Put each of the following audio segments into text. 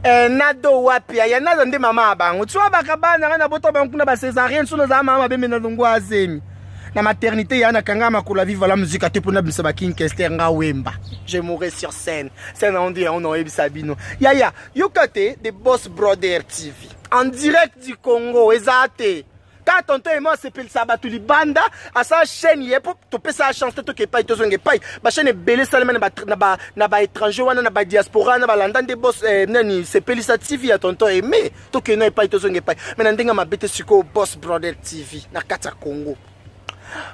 eh, nado wapi ya naza nde mama ya bango tsua bakabana ngai nabota bango kuna bacesarien so nazala mama mabe me na longwa azemi na maternité ya nakanga makolo ya viva la musique ate mpo nabimisa baking kester nga wemba je mourais sur scène scène aondi yango naoyebisa bino yaya yoka te de boss brother tv en direct du congo eza te ka tonton emo asepelisa bato libanda asala chaîne ye mpo topesa ya chance te toke epai tozonga epai bachaîne ebele esalema na baétranger wana na badiaspora na balanda nde bos eh, nani sepelisa tv ya tonton eme tokei na epai tozonga epai mai na ndenge mabe te sikoyo bos brother tv na kati ya congo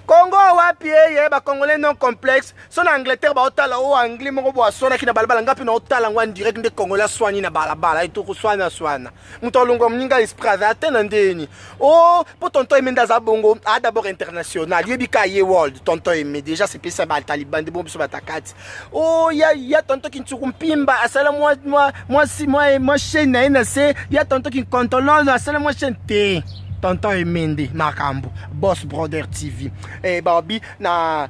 congo wapi eye bacongolais non complexe so na angleterre baotala o oh, anglais moko boaswanaki na balabala ngai mpe naotala yango en direct nde congolais aswani na balabala etokoswana swana moto alongwa moninga esprit aza ata na ndeni o oh, mpo tonton eme nde aza bongo a d'abord international yebi ka ye world tonton eme déjà sepesa bataliban nde bongo biso batakati o oh, ya, ya tonton kinsuku mpimba asala mwa, mwa, mwa, mwa, mwa chaine na ye na se ya tonton kinkontololo asala mwa chaine te tonton eme nde makambo boss brother tv eh, babi na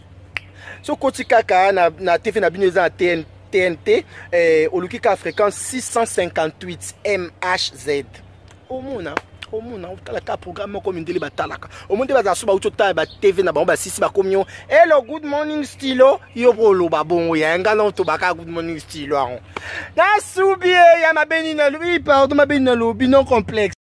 sokoti kaka na, na tv na bino eza na tn, tnt eh, oluki kaka fréquence 658 mhz omona omona otala kaka programme moko mindele batalaka omoni nde bazala so bauti otala ba tv na bango basisi bakomi yo hello good morning stilo yo mpo oloba bongo ya nga na otobaka good morning stilo yango nasubi ya mabeni nalobi pardon mabeni nalobi non complexe